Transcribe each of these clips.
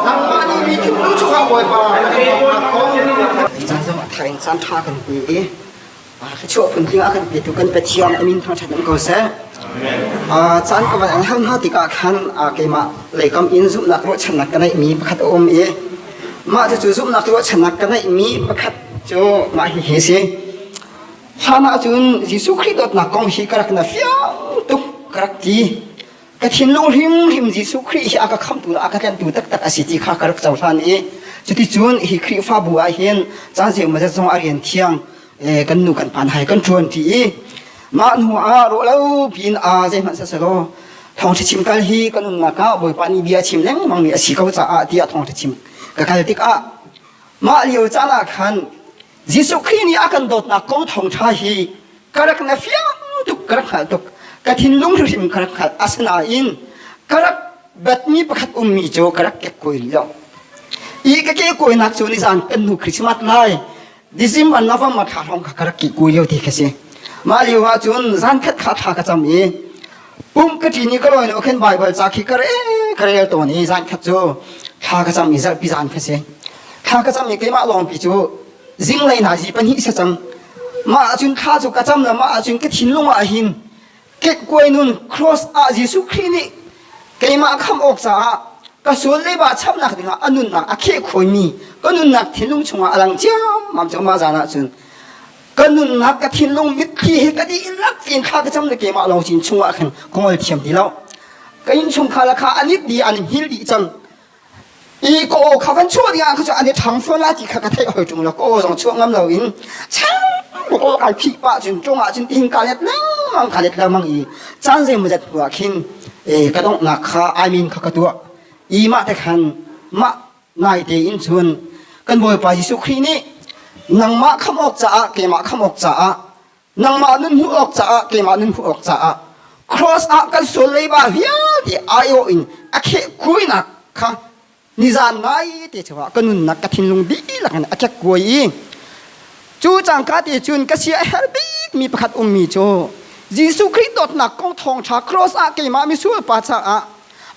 Nangmah nih mi thutnu chungah Bawipa na kan tonnak kong caan zong a thar in caan ṭha kan pe i thluachuah phun ding ah kan petu kan Pathian amin hna ṭhat ko seh. Caan ka van an hal hna tikah khan keimah leikam in zumhnak ruahchannak ka neihmi pakhat a um i mah cucu zumhnak ruahchannak ka neihmi pakhat cu mah hi hi si. Hlan ah cun Jesuh Khrih dawtnak kong hi ka rak na fiang tuk ka rak ti. Ka thinlung hrimhrim Jesuh Khrih hi a ka khamhtu le a ka tlantu taktak a si ti kha ka rak cohlan i cuticun hi Khrihfabu ah hin caan zeimawzat mazat zong a rian thiang kan nu kan pan hai kan ṭuan ṭi i mah hnu ah rawhlo piin aa zeihmanh sasalaw thawngṭha chim kal hi ka nunnak ah Bawipa nih bia a chim lengmang mi a si ko caah ti a thawngṭha chim ka kal tikah mah lio caan ah khan Jesuh Khrih nih a kan dawtnak kong thawngṭha hi ka rak na fiang tuk, ka rak hngalh tuk. Ka thinlung hrimhrim ka rak hngalh. Asinain ka rak batmi pakhat ummi cu ka rak kek kuai lo. I ka ke kuainak cu nizan kan hnu Christmas lai December November thla hrawng kha ka rak kih kuai lio ti ka si. Mah lio ah cun zan khat kha thla ka cam i pum ka ṭi ni ka lawi lo khin Baibal ca khi ka re ka rel tawn i zan khat cu thla ka cam i zarhpi zan kha si thla ka cam i keimah lawngpi cu zinglei hna zi pahnih si cang mah ahcun thla cu ka cam le mah ahcun ka thinlung ah hin kekkuai nun cross ah Jesuh Khrih nih keimah kham awk caah ka sual le ba chamnak dingah a nunnak a kheh khawimi ka nunnak thinlung chungah a lang ciammam cang ma zan ahcun ka nunnak ka thinlung mitthli hi ka dih in lak in kha ka cam le keimah lawng sin chungah khan ka ngol thiam ti lo ka inn chungkhar la kha anit di an hil di cang i ko kha kan chuah ding kha chu ani thang phon la ti kha ka thei hoi tung lo ko zong chuak ngam lo in chang ko kan phi pa chun chungah chun tin ka let lang ka let la mang i chan ze mu zat hua khin e ka dong na kha i mean kha ka tua i ma te khan ma Naite in cun kan Bawipa Jesuh Khrih nih nangmah khamh awk caah keimah khamh awk caah nangmah nun hmuh awk caah keimah nun hmuh awk caah cross ah kan sual leiba vialte aiawh in a khehkuainak kha nizan nai te chungah ka nunnak ka thinlung dihlak in a kekkuai i cu cangka te cun ka sia a her bikmi pakhat ummi cu Jesuh Khrih dawtnak kong thawngṭha cross ah keimah misual pa caah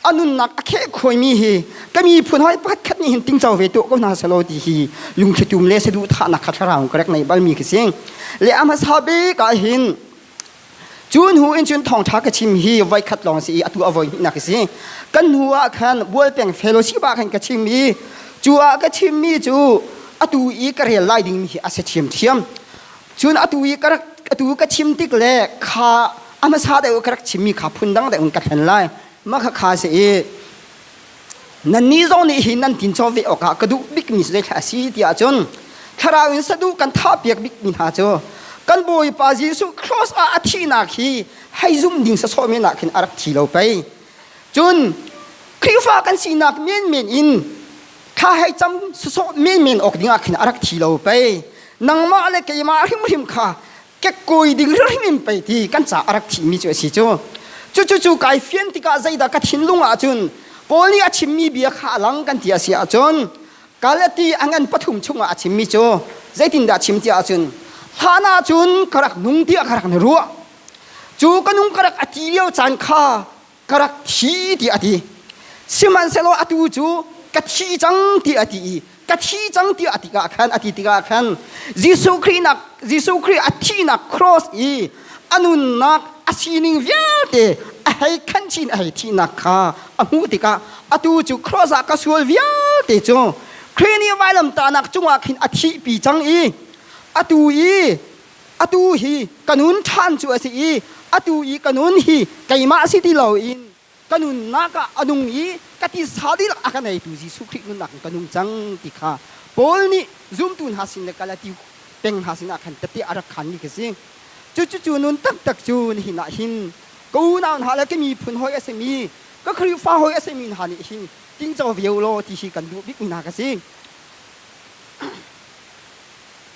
a nunnak a kheh khoimi hi ka miphun hoi pat khat ni hin ting chau ve tu ko hna selo ti hi lungthlitum le sedu tha na khat rau karek nei bal mi kising le ama sa be ka hin cun hu in cun thong tha ka chim hi vai khat long si atu avoi hi na kisi kan hu a khan bual peng fellowship a khan ka chim mi chu a ka chim mi chu atu i ka rel lai ding mi hi ase chiam thiam cun atu i ka rak atu ka chim tik le kha a hmasa deuh ka rak chimmi kha phun dang deuh in ka thlen lai mah kha kha si i nannih zong nih hi nan tin chaw ve awkah ka duh bikmi zeithlak a si tiah cun thlarau in saduh kan thapiak bikmi hna cu kan bawipa jesuh cross ah a thihnak hi hei zum ding sasawh men ah khin a rak thi lo pei cun Khrihfa kan sinak menmen in thla hei cam susawh men men awk dingah khin a rak thi lo pei nangmah le keimah hrimhrim kha kekoi ding hrimhrim pei ti kan ca a rak thimi cu a si cu cucu cu kai fian tikah zeidah ka thinlung ah cun Paul nih a chimmi bia kha a lang kan ti a si ahcun Galati angan pathum chungah a chimmi cu zeitindah chim ti ahcun hlan ah cun ka rak nung tiah ka rak na ruah cu ka nung ka rak a ti lio caan kha ka rak thi tiah a ti sihmanhsehlaw atu cu ka thi cang tiah a ti i ka thi cang tiah a ti ah khan a ti tikah khan Jesuh Khrih nak Jesuh Khrih a thihnak cross i a nunnak a sining vialte a hei khan chin a hei thihnak kha a hmuh tikah atu cu cross ah ka sual vialte cu Khrih nih vailamtahnak cungah khin a thihpi cang i atu i atu hi ka nun ṭhan cu a si i atu i ka nun hi keimah si ti loin ka nunnak ah a nung i ka tisa dihlak a ka neitu Jesuh Khrih nunnak in ka nung cang ti kha Paul nih zumtu hna sin le kal a ti peng hna sinah khan tatih a rak khanmi ka si. Cucucu nun taktak cu nihin ah hin ka unau hna le ka miphun hawi a simi ka Khrihfa hawi a simi hna nih hin tingco vio law ti hi kan duh bikmi hna ka si.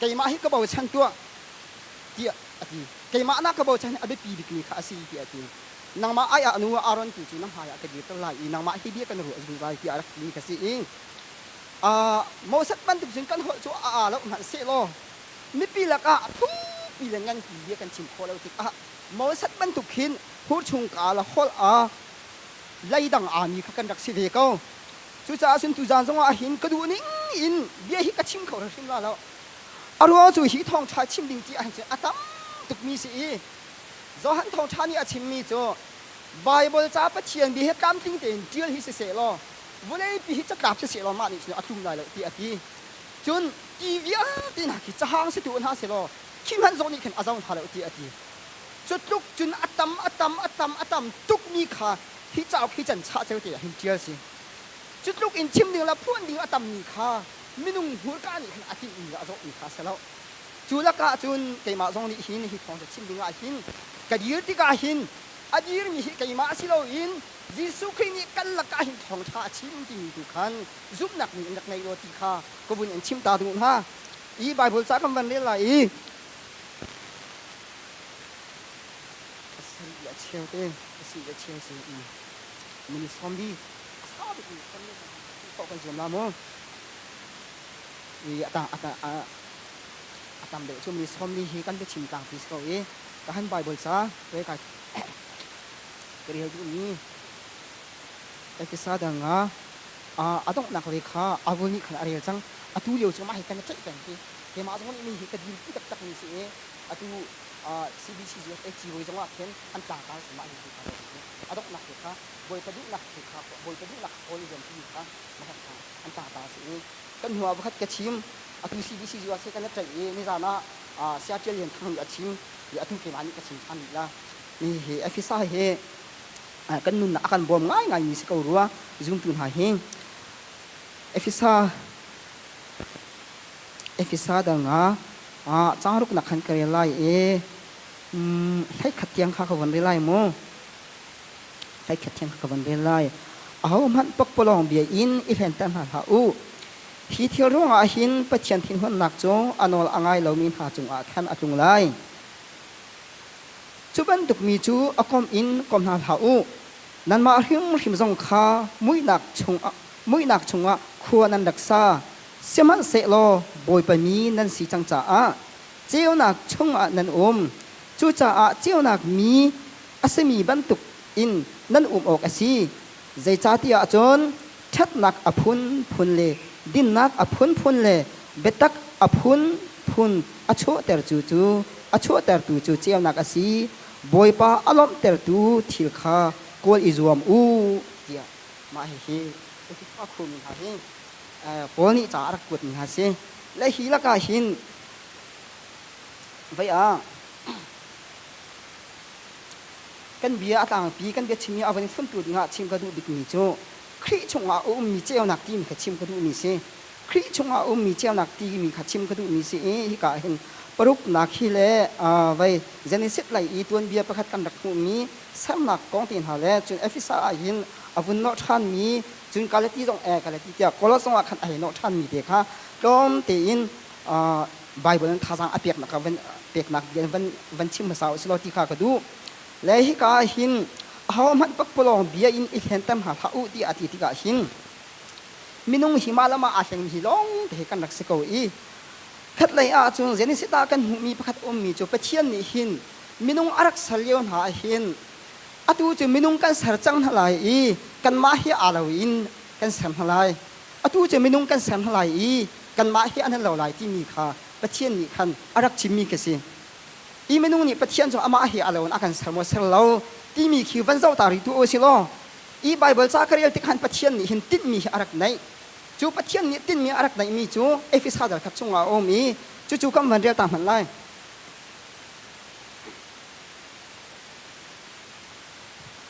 keimah hi ka bochan tuah tiah a ti keimah na ka bochan a biapi bikmi kha a si tiah a ti nangmah ai ah nu Aaron tu cu na hmaiah ka dir ko lai i nangmah hi bia kan ruah zungzal tiah a rak timi ka si i uh, Moses bantuk cun kan holh cu a aa loh hmanh sehlaw mipi lakah thukpi le nganpi bia kan chim khawh lo tikah Moses bantuk khin hurchung ka la holh a leidang ami kha kan rak si ve ko Cucaah cun tuzaan zongah a hin ka duh ning in bia hi ka chim kho hrimhrim la lo. A ruang cu hi thawngṭha chim ding ti ahhin cun a tam tukmi si i Johan thawngṭha nih a chimmi cu Baibal ca Pathian bia hi tlamtling tein ṭial hi siseh law vawleipi hi catlap siseh law mah nih cun a tlung lai lo ti a ti. Cun ti vialte hna khi cahang si tu hna selaw khi hmanh zong nih khin a zong hna lo ti a ti. Cu tluk cun a tam a tam a tam a tam tukmi kha Hi cauk hi can chah ceu te ah hin ṭial si. Cu tluk in chim ding le phuan ding a tammi kha minung hmurka nih khan a tinhmi le a zohmi kha si lo. Cu lakah cun keimah zong nih hin hi thawng cu chim ding ah hin ka dir tikah hin a dirmi hi keimah si loin Jesuh Khrih nih kan lakah hin thawngṭha a chim timi tu khan zumhnak ding in rak ngei law ti kha ka vun in chim ta ding u hna. I Baibal ca kan van rel lai i A sen i a cheu te, a si i a cheu sen i nan i sawm dih. A sau bik mi sawm men hmanh hmuh khawh kan zuam la maw? I a tang a tang a a tam deuh cu mun i sawm ni hi kan biachim tlang ti si ko i ka han Bible ca ka i kai ka rel duhmi Efesa dang ah ah a donghnak ve kha Abel nih khan a rel cang. Atu lio cu mah hi kan i tlaih peng khi. Keimah zong nih mi hi ka dirpi taktakmi si i atu CBCGFA Civawi zongah khin an tlangtar sinah an in hmu kha zei bantuk a donghnak te kha Bawipa duhnak thil kha Bawipa duhnak kha kawl i zuam timi kha va hngalh hna. An tlangtar sin i kan hnu ah vakhat ka chim, atu CBCGFA he kan i ṭaih i nizan ah Saya Ṭial Lian Thang nih a chim i atu keimah nih ka chim ṭhan rih la. Mi hi Efesa hi kan nunnak a kan bawm ngaingaimi si ko rua zumtu hna hi. Efesa Efesa dal nga changruk nak khan ka rel lai i hleikhat tiang kha ka von rel lai mu hleikhat tiang kha ka von rel lai aho hmanh pakpalawng bia in i hlenter hna hlah u hi thil ruangah hin pathian thinhunnak cu a nawl a ngai lomi hna cungah khan a tlung lai cu bantuk mi cu a kom in kom hna hlah u nanmah hrimhrim zong kha muihnak chung muihnak chungah khua nan rak sa Sihmanhsehlaw Bawipa mi nan si cang caah ceunak chungah nan um, cucaah ceunak mi a simi bantukin nan um awk a si, zeicahtiah cun ṭhatnak a phunphun le dinnak a phunphun le biatak a phunphun a chuahtertu cu a chuahtertu cu ceunak a si, Bawipa a lawmhtertu thil kha kawl i zuam u, tiah mah hihi Ekhipha khurmi hna hi Paul nih ca a rak kuatmi hna si. Le hi lakah hin vei ah kan bia a tlangpi kan bia chim hi a van in funtu dingah chim ka duh bikmi cu Khrih chungah a ummi ceunak timi kha chim ka duhmi si. Khrih chungah a ummi ceunak timi kha chim ka duhmi si i hika hin paruknak hi le vei Genesis lei i tuanbia pakhat kan rak hmuhmi sernak kong te hna le cun Efesa ah hin a vun nawh ṭhanmi, cun Galati zong ee Galati tiah Kolos zongah khan a hei nawh ṭhanmi te kha tlawm tein Baibal in thazaang a peknak ah van peknak bia in van van chim hmasa u silaw ti kha ka duh. Le hika ah hin ahohmanh pakpalawng bia in i hlenter hna hlah u tiah a ti tikah hin minung hi mah le mah aa hlengmi hi lawng te kan rak si ko i khatlei ah cun Genesis ah kan hmuhmi pakhat a ummi cu Pathian nih hin minung a rak ser lio hna ah hin atu cu minung kan ser cang hna lai i kanmah hi aa lo in kan ser hna lai atu cu minung kan ser hna lai i kanmah hi an lo lai timi kha Pathian nih khan a rak chimmi ka si i minung nih Pathian cu amah hi a lo in a kan ser maw ser lo timi khi van zoh ta rih tu u si law i Baibal ca ka rel tikhan Pathian nih hin tinhmi hi a rak neih cu Pathian nih tinhmi a rak neihmi cu Efesa dal khat chungah a um i cucu kan van rel ta hmanh lai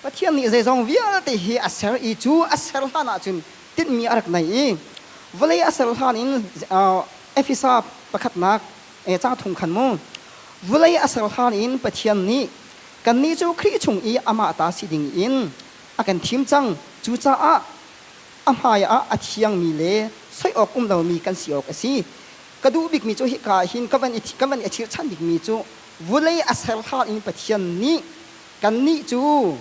Pathian nih zeizong vialte hi a ser i cu a ser hlan ah cun tinhmi a rak nei i vawlei a ser hlan in Efesa pakhatnak ca thong khan mu vawlei a ser hlan in Pathian nih kannih cu Khrih chung i amah ta si ding in a kan thim cang cucaah a hmai ah a thiangmi le soi awk um lomi kan si awk a si ka duh bikmi cu hika ah hin ka van i ka van i achirchan bikmi cu vawlei a ser hla in Pathian nih kannih cu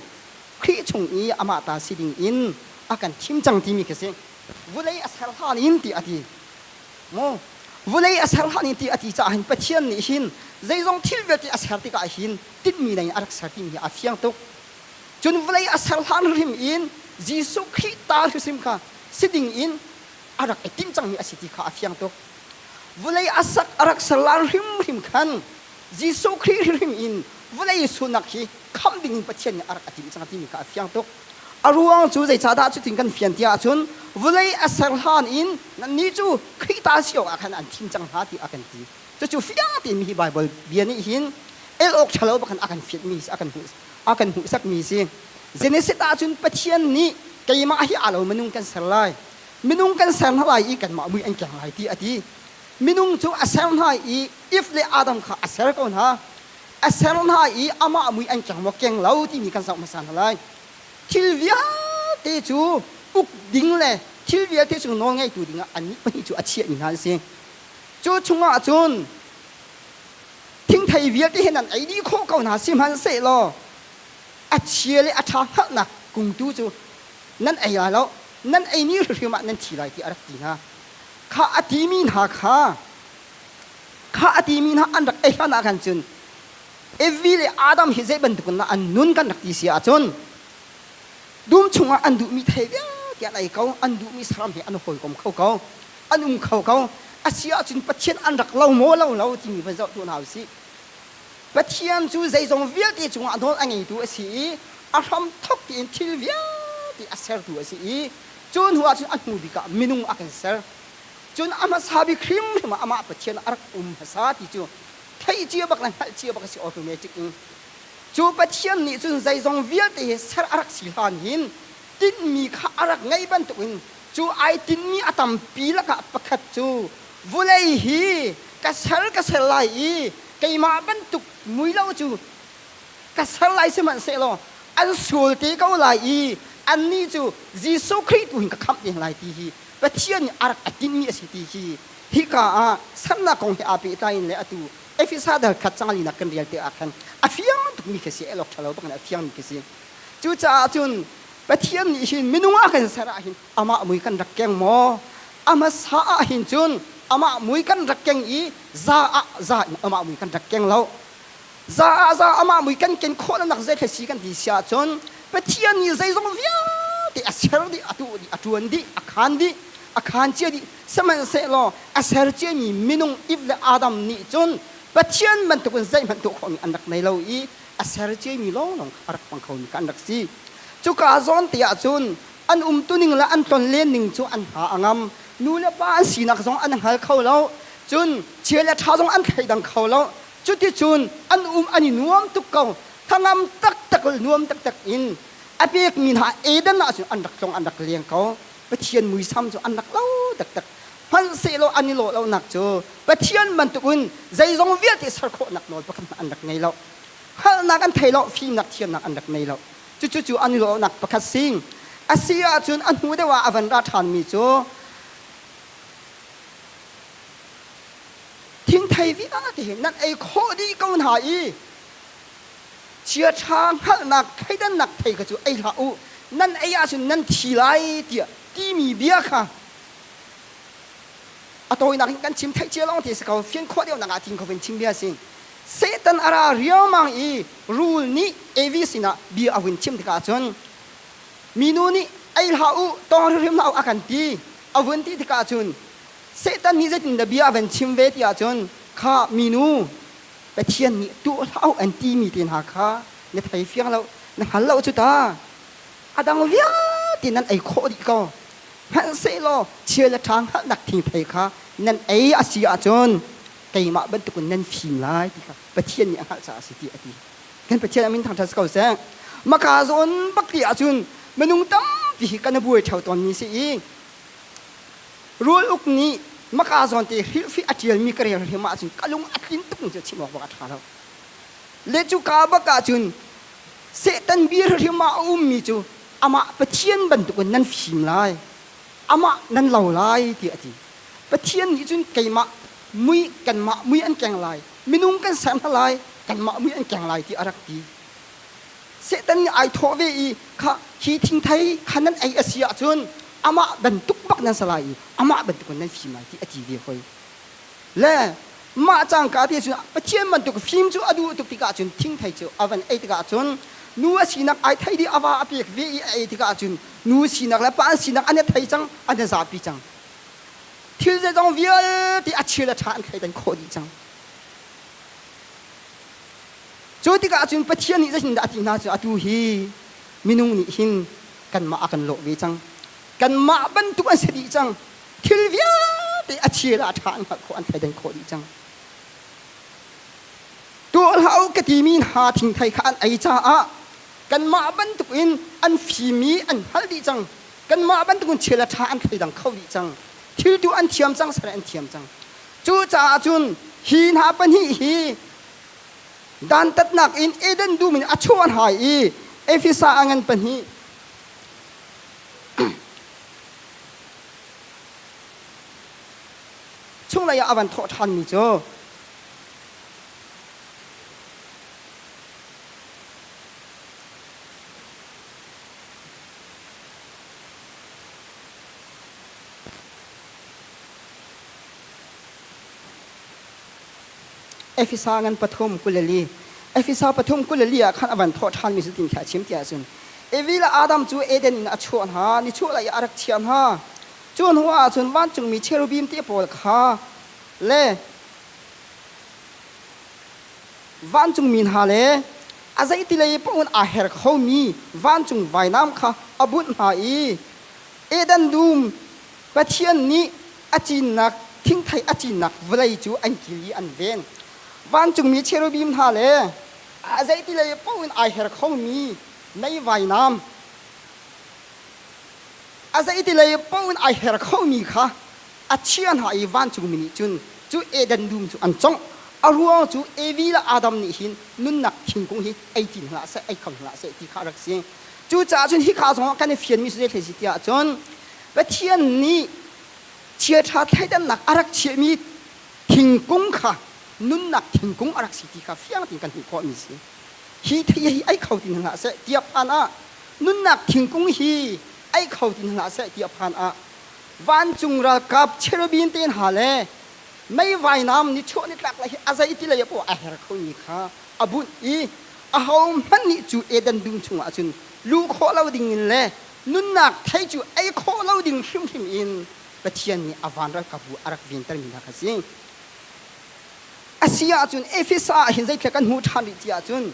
Khrih chung i amah ta si ding in a kan thim cang timi khi a si vawlei a ser hlan in ti a ti maw vawlei a ser hlan in ti a ti caah hin Pathian nih hin zeizong thil vialte a ser tikah hin tinhmi lei in a rak ser timi hi a fiang tuk cun vawlei a ser hlan hrim in Jesuh Khrih ta hrim kha si ding in a rak i tim cangmi a si ti kha a fiang tuk. Vawlei a sak a rak serlar hrimhrim khan Jesuh Khrih hrimhrim in vawlei sunak hi khamh dingin Pathian nih a rak a timh cang timi kha a fiang tuk. A ruang cu zeicahdah cutin kan fian tiah ahcun vawlei a ser hlan in nannih cu Khrih ta si awkah khan an thim cang hna tiah a kan ti. Cucu fiang tein hihi Baibal bia nih hin el awk ṭhalo bak in a kan fianhmi a kan hmuh a kan hmuhsakmi a si. Genesis ahcun Pathian nih keimah hi aa lo minung kan ser lai. minung kan ser hna lai i kanmah mui an keng lai ti a ti minung cu a ser hna i if le adam kha a ser ko hna a ser hna i amah mui an keng maw keng lo timi kan zoh hmasa hna lai thil vialte cu uk ding le thil vialte cu nawl ngeitu dingah annih pahnih cu a chiahmi hna an si cu chungah cun thingthei vialte hin an ei dih khawh ko hna sihmanhsehlaw a chia le a ṭha hngalhnak kungtu cu nan ei lai lo nan ei ni hrimhrim ah nan thi lai ti a rak ti hna kha a timi hna kha kha a timi hna an rak ei hlan ah khan cun Evi le Adam hi zei bantuk in an nun kan rak ti si ahcun dum chungah an duhmi thei vialte an ei ko an duhmi saram he an hawikom kho ko an um kho ko a si ahcun Pathian an rak lo maw lo lo timi va zoh tu hna u sih Pathian cu zeizong vialte cungah nawl a ngeitu a si i a hramthok tein thil vialte a sertu a si i cu hnu ahcun a hnu bik ah minung a kan ser. Cun a hmasa bik hrimhrim ah amah Pathian a rak um hmasa ti cu theih cia bak le hngalh cia bak a si automatic in. Cu Pathian nih cun zeizong vialte he ser a rak si hlan hin tinhmi kha a rak ngeih bantukin cu ai tinhmi a tampi lakah pakhat cu vawlei hi ka ser ka ser lai i keimah bantuk muilo cu ka ser lai sihmanhsehlaw an sual te ko lai i annih cu Jesuh Khrih tu hin ka khamh ding lai ti hi Pathian nih a rak a timhmi a si ti hi hika ah sernak kong he aa pehtlai in le atu Efesa dal khat cang linak kan rial te ah khan a fiang tukmi khi a si elok ṭhalo bak in a fiangmi khi a si cucaah cun Pathian nih hin minung ah kan ser ahhin amah mui kan rak keng maw amasa ah hin cun amah mui kan rak keng i za ah za in amah mui kan rak keng lo za ah za amah mui kan ken khawh nanak zeitlai si kan ti si ahcun pathian nih zeizong vialte a ser dih a tu dih a tuan dih a khan dih a khan cia dih sihmanhsehlaw a ser ciami minung ip le adam nih cun pathian bantukin zeihmanh tuah khawhmi an rak nei lo i a ser ciami lawnglawng kha a rak hmang khomi kha an rak si cuka zawn te ahcun an umtuning le an tlonlenning cu an hna a ngam nu le pa an sinak zong an hngal kho lo cun chia le ṭha zong an thleidang kho lo cuticun an um an i nuam tuk ko hnangam taktak nuam taktak in a pekmi hna Eden ah cun an rak tlong an rak leng ko Pathian muisam cu an rak lo taktak hmanhsehlaw an i lawh lonak cu Pathian bantukin zeizong vialte ser khawhnak nawl pakhat an rak ngei lo hngalhnak an thei lo fimnak thiamnak an rak ngei lo Cucu an lawhnak pakhat sing a si ahcun a hnu deuh ah a van ra ṭhanmi cu thingthei vialte nan ei khawh dih ko hna i chiaṭha hngalhnak thleidannak thei kha cu ei hlah u nan ei ahcun nan thi lai tiah timi bia kha a tawinak in kan chim theih cia lawng ti a si ko fian khawh deuhnak ah tin khovin chim bia a si Satan a ra riaumang i rul nih Evi sinah bia a hun chim tikah cun minu nih ei hlah u tawng hrimhrim hlah u a kan ti a vun ti tikah cun Satan nih zeitindah bia a van chim ve tiah cun kha minu Pathian nih tuah hlah u an timi te hna kha na thei fiang lo na hngal lo cu ta a dang vialte nan ei khawh dih ko hmanhsehlaw thil a ṭha hngalhnak thingthei kha nan ei a si ahcun keimah bantukin nan fim lai ti kha Pathian nih a hngalh caah a si ti a ti. Kan Pathian a min thangṭhat si ko seh. Maka zawn bakti ahcun minung tampi hi kan buai ṭheo tawn ni si i rul uk nih maka zawn te hirfi a ṭialmi ka rel hrim ahcun ka lung a tlin tuk cu chim awk bak a ṭha lo. Le cu ka bak ahcun Satan bir hrim ah a ummi cu amah Pathian bantukin nan fim lai. Amah nan lo lai ti a ti. Pathian nih cun keimah mui kanmah mui an keng lai minung kan ser hna lai kanmah mui an keng lai ti a rak ti Satan nih ai thawh ve i kha hi thingthei kha nan ei a si ahcun amah bantuk bak nan sa lai i amah bantuk nan fim lai ti a ti ve hoi le mah cangka te cun Pathian bantuk fim cu a duh tuk tikah cun thingthei cu a van ei tikah cun nu a sinak ai thei dih a va a pek ve i a ei tikah cun nu sinak le pa an sinak an thei cang an zapi cang Thil zeizong vialte a chia le ṭha an thleidan khawh dih cang. Cu tikah cun Pathian nih zeitindah a ti hna cu atu hi minung nih hin kanmah a kan lawh ve cang. Kanmah bantuk an si dih cang. Thil vialte a chia le a ṭha an hngalh khawh, an thleidan khawh dih cang. Tuah hlah u ka timi hna thingthei kha an ei caah kanmah bantuk in an fim i an hngalh dih cang. kanmah bantukin thil a ṭha an thleidang kho rih cang thil tu an thiam cang sare an thiam cang cucaah cun hi hna pahnih hi dantatnak in eden dum in a chuan hai i efesa a ngan pahnih chung lei ah a van thawh ṭhanmi cu Efesa ngan pathum kulali Efesa pathum kulali ah khan avan thawh ṭhan mi cu tin kha chim tiah cun Evi le Adam cu Eden in a chuah hna ni chuah lai a rak chiah hna cu hnu ah cun vancungmi cherubim te pawl kha le Vancungmi hna le a zeitilei paoh aa her khomi vancung vainam kha a bunh hna i Eden dum Pathian nih a cinnak thingthei a cinnak vawlei cu an kil i an ven. Vancungmi cherubim hna le a zeitilei paoh in ai her khomi mei vainam a zeitilei paoh in ai her khomi kha a chia hna i vancungmi nih cun cu Eden dum cu an congh. A ruang cu Evi le Adam nih hin nunnak thingkung hi ei ti hna seh, ei kho hna seh ti kha a rak si. Cucaah cun hika zongah kan i fianmi cu zeitlei si tiah cun Pathian nih chiaṭha thleidannak a rak chiahmi thingkung kha nunnak thingkung a rak si ti kha fiang tein kan hmuh khawhmi a si. Hi thei hi ei kho ti hna hlah seh ti a phan ah nunnak thingkung hi ei kho ti hna hlah seh ti a phan ah Vancung ralkap cherubim te hna le meivainam ni chawh ni tlak hi a zei ti lei ah a her khomi kha a bunh i ahohmanh nih cu Eden dum chungah cun luh khawh lo dingin le nunnak thei cu ei khawh lo ding hrimhrim in Pathian nih a van ralkapbu a rak ventermi hna kha a si. A si ahcun Efesa ah hin zeithlek kan hmuh ṭhan rih ti ahcun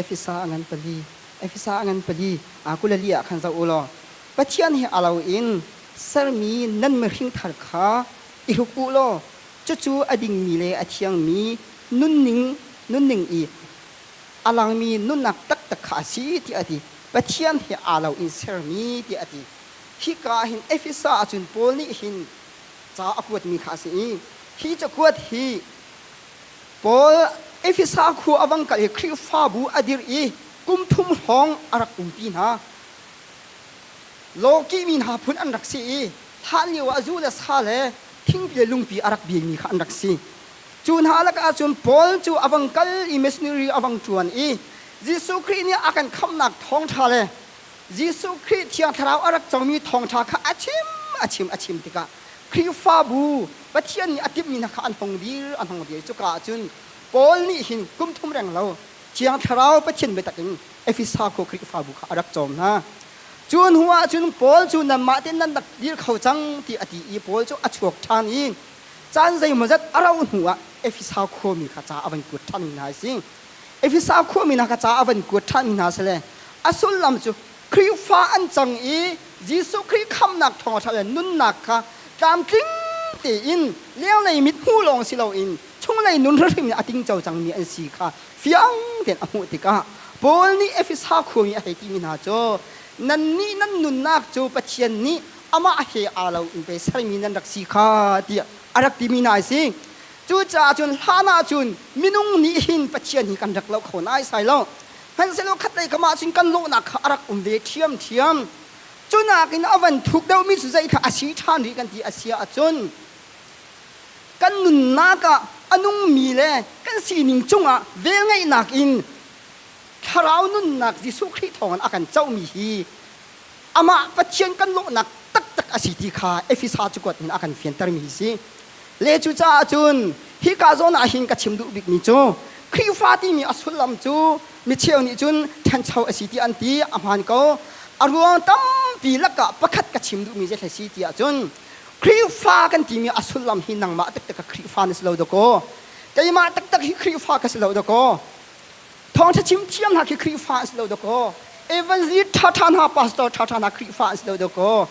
Efesa a ngan pali, Efesa a ngan pali, aa kulali ah khan zoh u law Pathian he a lo in sermi nan mihringthar kha i hruk u law cucu a dingmi le a thiangmi nunning nunning i a langmi nunnak taktak kha a si tiah a ti. Pathian he aa lo in sermi tiah a ti. Hika ah hin Efesa a cun Paul nih hin ca a kuatmi kha a si i hi cakuat hi Paul Efesa khua a vang kal i Khrihfabu a dirh i kum thum hrawng a rak umpi hna. Loki mi hna phun an rak si i hlan lio ah zu le sa le thingpi le lungpi a rak biami kha an rak si. Cu hna lakah cun Paul cu a vang kal i missionary a vang ṭuan i Jesuh Khrih nih a kan khamhnak thawngṭha le Jesuh Khrih Thiang Thlarau a rak comi thawngṭha kha a chim a chim a chim tikah Khrihfabu Pathian nih a timhmi hna kha an tong dir, a hnong dir. Cuka ah cun Paul nih hin kum thum reng lo Thiang Thlarau Pathian biatak in Efesa khua Khrihfabu kha a rak cawm hna. Cu hnu ah cun Paul cu nanmah tein nan rak dir kho cang ti a ti i Paul cu a chuak ṭhan i caan zeimawzat a rauh hnu ah Efesa khuami kha ca a van kuat ṭhanmi hna a si. Efesa khuami hna kha ca a van kuat ṭhanmi hna sile a sullam cu Khrihfa an cang i Jesuh Khrih khamhnak thawngṭha le nunnak kha tlamtling tein lionglei mithmuh lawng si loin chunglei nun hrimhrim nih a tingco cangmi an si kha fiang tein a hmuh tikah Paul nih Efesa khuami a hei timi hna cu nannih nan nunnak cu Pathian nih amah he aa loin pei sermi nan rak si kha tiah a rak timi hna a si. Cucaah cun hlan ah cun minung nih hin Pathian hi kan rak lo kho naisai lo. Hmanhsehlaw khatlei kamah cun kan lawhnak kha a rak um ve ṭhiamṭhiam. Cunakin a van thuk deuhmi cu zeithah a si ṭhan rih kan ti a si ahcun kan nunnak ah a nungmi le kan sining cungah velngeihnak in thlarau nunnak Jesuh Khrih thawngin a kan cohmi hi amah Pathian kan lawhnak taktak a si ti kha Efesa cukuat in a kan fiantermi si le cucaah cun hika zawn ah hin ka chim duh bikmi cu Khrihfa timi a sullam cu micheu nih cun ṭhancho a si ti an ti a hmaan ko a ruang tampi lakah pakhat ka chim duhmi zeithle si tiah cun Khrihfa kan timi a sullam hi nangmah taktak ka Khrihfa na si lo dakaw keimah taktak hi Khrihfa ka si lo dakaw thawngṭha chim thiang hna khi Khrihfa an si lo dakaw evangelist ṭhaṭha hna pastor ṭhaṭha hna Khrihfa an si lo dakaw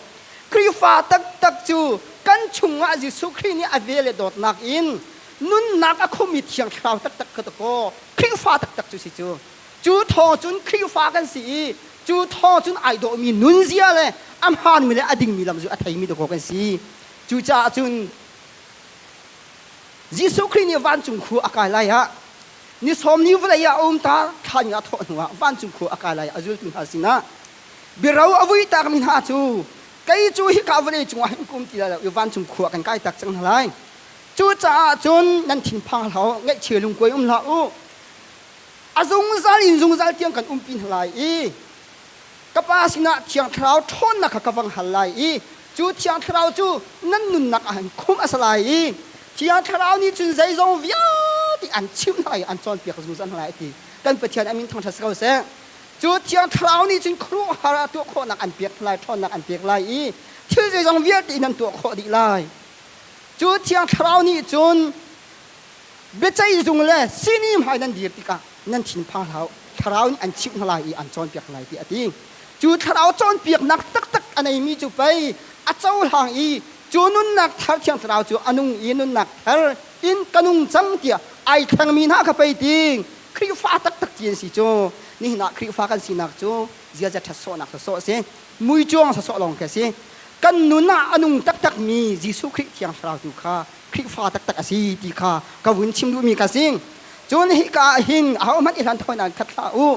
Khrihfa taktak cu kan chungah Jesuh Khrih nih a ve le dawtnak in nunnak a khumi thiang thlarau taktak kha dakaw Khrihfa taktak cu si cu cu thawng cun Khrihfa kan si i cu thawng cun ai dawhmi nunzia le a hmaanmi le a dingmi lam cu a theimi dakaw kan si cucaah cun Jesuh Khrih nih vancung khua a kai lai ah Ni sawm ni vawlei ah a um ta thlan nga thawh hnu ah vancung khua a kai lai a zultu hna sinah biaro a vui tak mi hna cu kei cu hi ka vawlei cungah hin kum ti lai lo i vancung khua kan kai tak cang hna lai cucaah cun nan thinphang hlah u ngaihchia lungkuai um hlah u a zungzal in zungzal tiang kan umpi hna lai i ka pa sinah thiang thlarau ṭhawnnak kha ka vang hal lai i cu thiang thlarau cu nan nunnak ah an khumh a si lai i thiang thlarau nih cun zeizong vialte an chimh hna i an cawnpiak zungzal hna lai a ti kan pathian a min thangṭhat si ko seh cu thiang thlarau nih cun khuaruahhar ah tuah khawhnak an pek lai ṭhawnnak an pek lai i thil zeizong vialte nan tuah khawh dih lai cu thiang thlarau nih cun biaceih zung le sihni hmai nan dir tikah nan thinphang hlah thlarau nih an chimh hna lai i an cawnpiak hna lai ti a ti cu thlarau cawnpiaknak taktak a neimi cu pei a cohlang i cu nunnak thar thiang thlarau cu a nung i nunnak thar in ka nung cang tiah ai thlengmi hna kha pei ding Khrihfa taktak ti an si cu nihin ah Khrihfa kan sinak cu ziaza ṭhatsawhnak sawsawh a si muicuang sawsawh lawng khi a si kan nun ah a nung taktakmi Jesuh Khrih thiang thlarau tu kha Khrihfa taktak a si ti kha ka vun chim duhmi ka sing. Cun hi ka ah hin ahohmanh i hlan thawinak khat hlah u.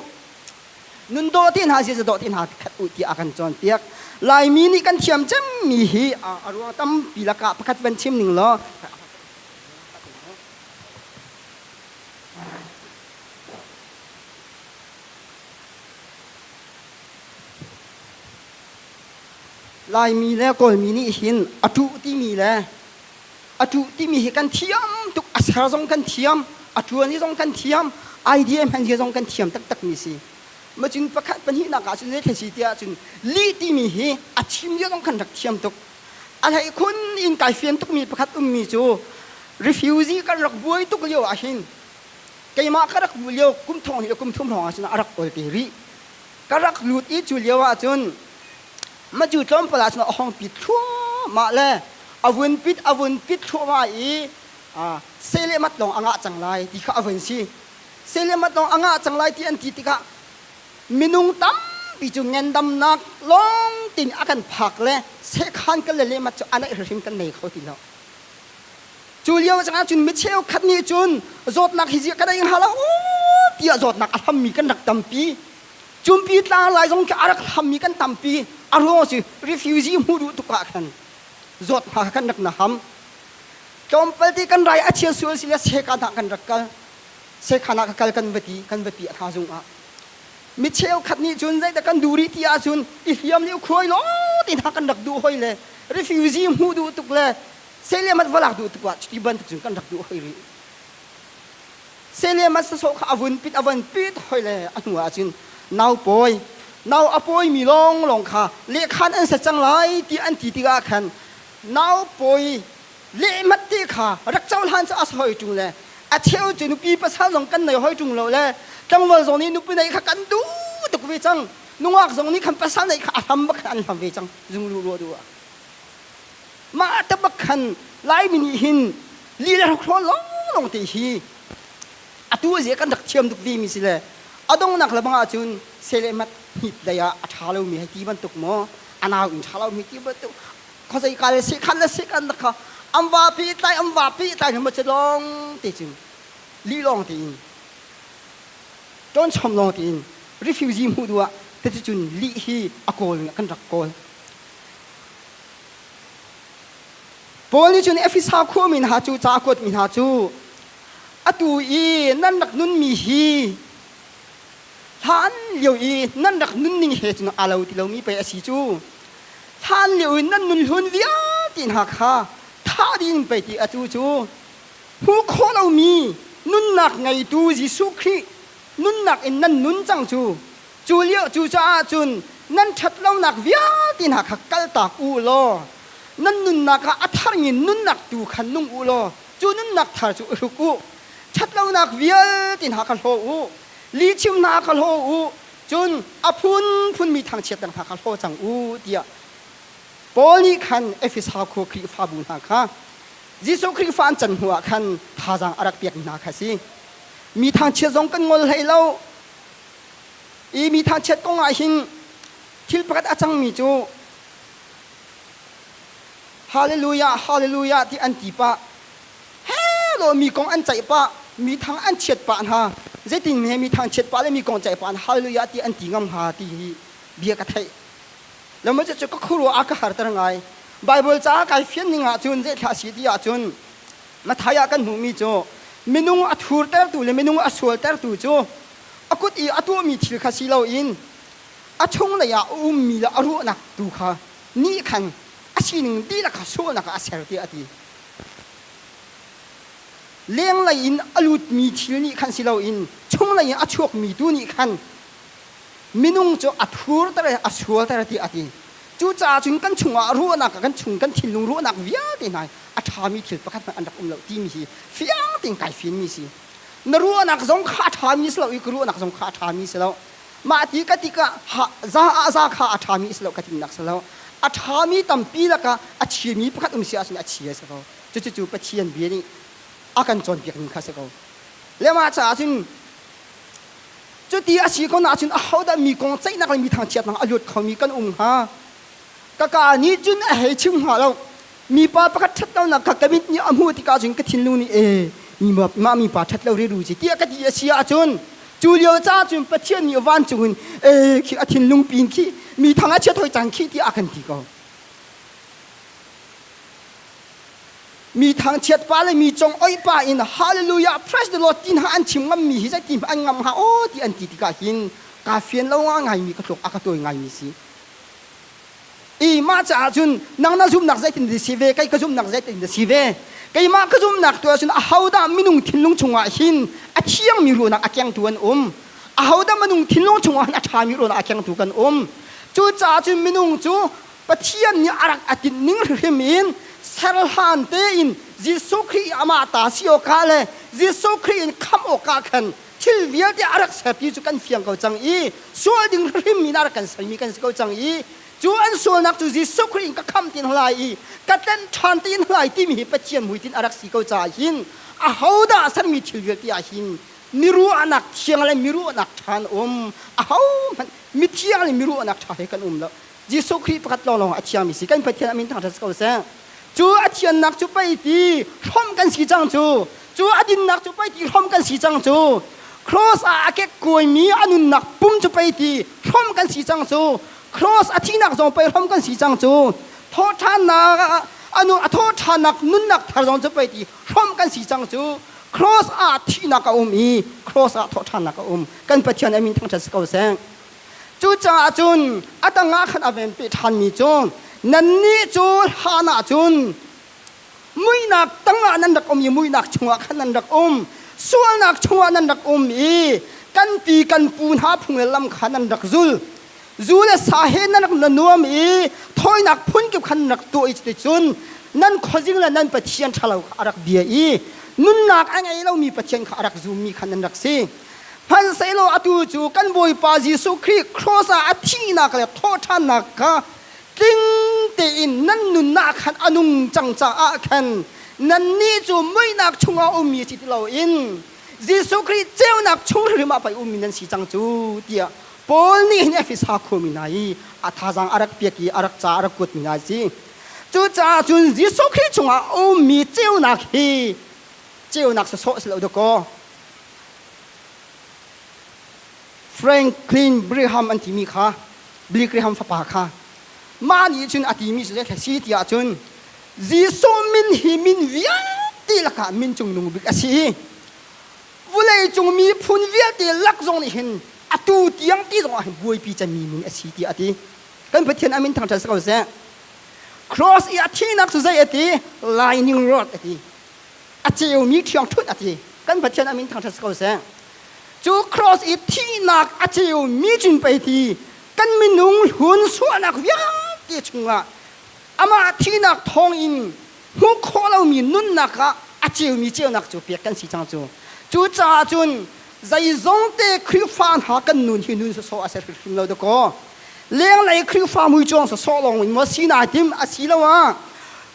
Nun daw ti hna ziaza daw ti hna khat u tiah a kan cawnpiak. Laimi nih kan thiam cemmi hi a ruang tampi lakah pakhat van chim ning law Laimi le Kawlmi nih hin a tuh timi le a tu timi hi kan thiam tuk a ser zong kan thiam a tuani zong kan thiam idea man hi zong kan thiam taktak mi si ma cun pakhat pahnih nak ah cun zei thasi tiah cun li timi hi a thim yo zong kan rak thiam tuk a hlei khun in kai fian tuk mi pakhat um mi cu refugee kan rak buai tuk lio ah hin keimah ka rak bu lio kum thong hi kum thum hrawng ah cun a rak ol te rih ka rak lut i cu lio ah cun Matu tlawmpal ah cun a hong pit thluahmah le a vun pit a vun pit thluahmah i sei le mat lawng a ngah cang lai ti kha a vun si. Sei le mat lawng a ngah cang lai ti an ti tikah minung tampi cu ngendamnak lawng tin a kan phak le sekhan kan le lemat cu a naih hrimhrim kan nei kho ti lo. Cu lio cangah cun mi cheukhat nih cun zawtnak hi ziah ka nei hnga lo tiah zawtnak a hlammi kan rak tampi. Cumpi tlang lai zong khi a rak hammi kan tampi a ruang si refugee hmuh duh tuk ah khan zawt hna kha kan rak na ham tlawmpal ti kan rai a chia sual si le sekan ah kan rak kal sekhan ah ka kal kan va ti kan va pi hna zung ah mi cheukhat nih cun zeidah kan duh rih ti ahcun i hliam nih khuai law ti hna kan rak duh hoi le refugee hmuh duh tuk le sei le mat va lak duh tuk ah cuti bantuk cun kan rak duh hoi rih Selemas sasawh kha a vun pit a vun pit hoi le a hnu ah cun nau pawi nau a pawi mi lawnglawng kha lehkhan an set cang lai ti an ti tikah khan nau pawi lehmat te kha rak cohlan cu a si hoi ṭung le a cheu cu nupi pasal zong kan nei hoi ṭung lo le tlangval zong nih nupi neih kha kan duh tuk ve cang nungak zong nih khan pasal neih kha a hlam bak khan an hlam ve cang zung lu ruah duh ah mah tabak khan Laimi nih hin li le hrokhrawl lawnglawng te hi atu a zia kan rak thiam tuk ve mi si le a dongnak le bang ahcun selemat hnip dei ah a ṭha lomi hei ti bantuk maw a nau in ṭha lomi ti bantuk khawzei ka le sekan le sekan na kha am va pe tlai am va pe tlai hama cu lawng te cun li lawng te in ṭon chom lawng te in refugee hmuh duh ah tete cun li hi a kawl kan rak kawl Paul nih cun Efesa khuami hna cu ca kuatmi hna cu atu i nan rak nunmi hi hlan lio i nan rak nunning he cun aa lo ti lomi pei a si cu hlan lio i nan nun hlun vialte hna kha ṭha tein pei ti atu cu hmu khawh lomi nunnak ngeitu Jesuh Khrih nunnak in nan nun cang cu Cu lio cucaah cun nan ṭhatlonak vialte hna kha kaltak u law nan nunnak ah a thar in nunnak tu khan nung u law cu nunnak thar cu i hruk u. Ṭhatlonak vialte hna kha hlaw u, lihchim hna kha hlaw u, cun a phunphunmi thangchiat dang hna kha hlaw cang u, tiah Paul nih khan Efesa khua Khrihfabu hna kha Jesuh Khrihfa an can hnuah khan thazaang a rak pekmi hna kha a si. Mi thangchiat zong kan ngol hlei lo. i mi thangchiat kong ah hin thil pakhat a cangmi cu hallelujah hallelujah ti an ti pah helo mi kong an ceih pah mi thang an chiat pah hna zeitin he mi thang chiat pah le mi kong ceih pah hallelujah ti an ti ngam hnga ti hi bia ka theih lama cu ka khurwa a ka harter ngai bible ca kai fian ning ah cun zei thla si ti ah cun Mathai ah kan hmuhmi cu minung a thurtertu le minung a sualtertu cu a kut i a tuahmi thil kha si loin a chunglei ah a ummi le a ruahnak tu kha nih khan a sining dihlak kha sualnak ah a ser tiah a ti. Lenglei in a lutmi thil nih khan si loin chunglei in a chuakmi tu nih khan minung cu a thurter a sualter tiah a ti cucaah cun kan chungah ruahnak kan chung kan thinlung ruahnak vialte hna a ṭhami thil pakhat hmanh an rak um lo timi hi fiang tein kai fianmi si na ruahnak zong kha a ṭhami si lo i ka ruahnak zong kha a ṭhami si lo mah ti ka tikah za ah za kha a ṭhami si lo ka timnak si lo a ṭhami tampi lakah a chiami pakhat um si ahcun a chia si ko cucu pathian bia nih a kan cawnpiak ning kha si ko le mah caah cun Cuti a si ko nain ahodah mi kong ceihnak le mi thangchiatnak a luat khomi kan um hnga? Ka ka nih cun a hei chim hnga lo. Mipa pakhat ṭhat lonak kha ka mit nih a hmuh tikah cun ka thinlung nih ee mah mipa ṭhat lo riru si tiah ka ti a si ahcun cu lio ca cun Pathian nih vancung in ee khi a thinlung pin khi mi thang a chiat hoi cang khi tiah a kan ti ko. mi thangchiat pa le mi cung oi pa in hallelujah praise the lord ti hna an chim ngam mi hi zai ti an ngam ha aw ti an ti tikah hin ka fian lo nga ngai mi ka tluk a ka tawi ngai mi si i ma caah cun nang na zumnak zeitin dah si ve kai ka zumnak zeitin dah si ve keimah ka zumnak tu ahcun ahodah minung thinlung chungah hin a thiang mi ruahnak a kengtu an um ahodah minung thinlung chungah hin a ṭha mi ruahnak a kengtu kan um cucaah cun minung cu Pathian nih a rak a tinh ning hrim in ser hlan tein Jesuh Khrih amah ta si awkah le Jesuh Khrih in khamh awkah khan thil vialte a rak ser ti cu kan fiang ko cang i sual ding hrim in a rak kan sermi kan si ko cang i cu an sualnak cu Jesuh Khrih in ka khamh ti lai i ka tlenh ṭhan ti lai timi hi Pathian hmuitinh a rak si ko caah hin ahodah a sermi thil vialte ah hin miruahnak thiang le miruahnak ṭha an um ahohmanh mithiang le miruahnak ṭha he kan um lo Jesuh Khrih pakhat lawnglawng a thiangmi si kan Pathian a min thangṭhat si ko seh. Cu a thiannak cu pei ti hrawmh kan si cang cu. Cu a dinnak cu pei ti hrawmh kan si cang cu. Cross ah a kekkuaimi a nunnak pum cu pei ti hrawmh kan si cang cu. Cross a thihnak zong pei hrawmh kan si cang cu. Thawhṭhannak a thawhṭhannak nunnak thar zong cu pei ti hrawmh kan si cang cu. Cross ah thihnak a um i cross ah thawhṭhannak a um. Kan Pathian a min thangṭhat si ko seh. Cucaah cun a dangah khan a venpi ṭhanmi cu nannih cu hlan ah cun muihnak tangah nan rak um i muihnak chungah khan nan rak um sualnak chungah nan rak um i kan pi kan pu hna phungel lam kha nan rak zul zu le sa he nan rak na nuam i thawinak phunkip khan rak tuah i cuticun nan khuazing le nan pathian ṭhalo kha a rak bia i nunnak a ngei lomi pathian kha a rak zummi kha nan rak si Hmansehlaw atu cu kan Bawipa Jesuh Khrih cross ah a thihnak le thawhṭhannak kha tling tein nan nunnak khan a nung cang caah khan nannih cu muihnak chungah ummi si ti loin Jesuh Khrih ceunak chung hrimhrim ah pei ummi nan si cang cu tiah Paul nih hin Efesa khuami hna i a thazaang a rak piak i a rak ca a rak kuatmi hna a si. Cucaah cun Jesuh Khrih chungah ummi ceunak hi ceunak sawsawh si lo dawkaw Franklin Graham an timi kha Billy Graham fapa kha mah nih cun a timi cu zeithle si tiah cun Jesuh min hi min vialte lakah min cungnung bik a si i vawleicung miphun vialte lak zong nih hin atu tiang ti zongah hin buaipi cemmi min a si tiah a ti kan Pathian a min thang ṭhan si ko seh cross i a thihnak cu zei a ti lightning rod a ti a ceumi ṭhiangṭhunh a ti kan pathian amin thangṭhat si ko seh cu cross i thihnak a ceumi cun pei ti kan minung hlun suahnak vialte chungah amah thihnak thawng in hmuh khawh lomi nunnak ah a ceumi ceunak cu pek kan si cang cu cucaah cun Zeizongte Khrihfa hna kan nun hi nun sawsawh a si hrimhrim lo dakaw. Lenglei Khrihfa muicuang sawsawh lawng in maw si na tim asi lo ah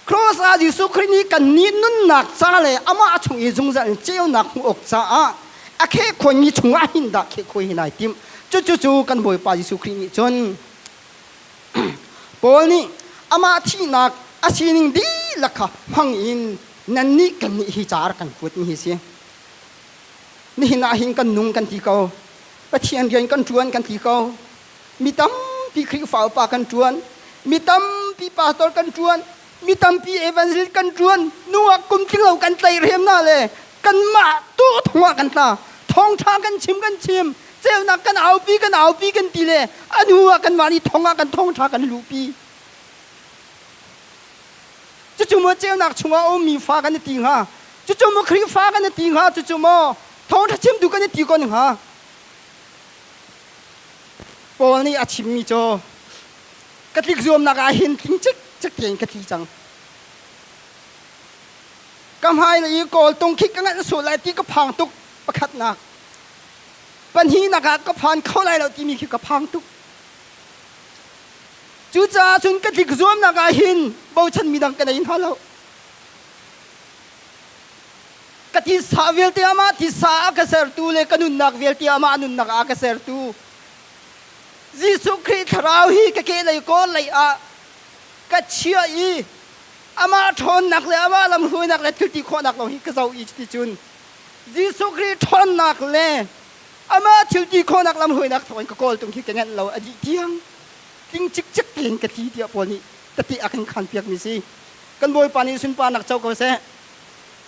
Cross ah Jesuh Khrih nih kan nih nunnak ca le amah chung i zungzal in ceunak hmuh awk caah a kheh khoimi chungah hin dah kheh khoi hi nai tim. Cucucu kan Bawipa Jesuh Khrih nih cun Paul nih amah thihnak a sining dihlak kha hmang in nannih kannih hi caar kan kuatmi hi si. Nihin ah hin kan nung kan ti ko. Pathian rian kan ṭuan kan ti ko. Mi tampi Khrihfa upa kan ṭuan. Mi tampi pastor kan ṭuan. Mi tampi evangelist kan ṭuan. Nungak kum tlinglo kan tleirem hna le kanmah tu thong ah kan tla. Thawngṭha kan chim kan chim. Ceunak kan aupi kan aupi kan ti le a hnu ah kanmah nih thong ah kan thawngṭha kan luhpi. cucu maw ceunak chungah a ummi fa kan i ti hnga cucu maw Khrihfa kan i ti hnga cucu maw thawngṭha chimtu kan i ti ko hnga Paul nih a chimmi cu ka tlik zuamnak ah hin tling cik cik tein ka tli cang ka hmailei i kawl tung khik ka nganh suh lai ti ka phang tuk pakhatnak pahnihnak ah ka phan kho lai lo timi khi ka phang tuk Cucaah cun ka tlik zuamnak ah hin bochanmi dang ka nei hna lo. Ka titsa vialte amah titsa ah ka sertu le ka nunnak vialte amah nunnak ah ka sertu Jesuh Khrih thlarau hi ka kehlei kawl lei ah ka chiah i amah ṭhawnnak le amah lamhruainak le thilti khawhnak lawng hi ka zoh i cuticun Jesuh Khrih ṭhawnnak le amah thilti khawhnak lamhruainak thawngin ka kawl tung hi ka ngenh lo a dih tiang tling cikcek tein ka thi tiah pawl nih ka ti a kan khanpiakmi si kan bawipa nih sunparnak co ko seh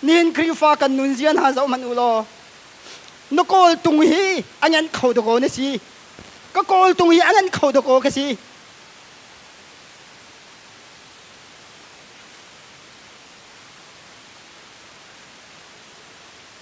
nihin khrihfa kan nunzia hna zoh hmanh u law na kawl tung hi a ngan kho dakaw na si ka kawl tung hi a ngan kho dakaw ka si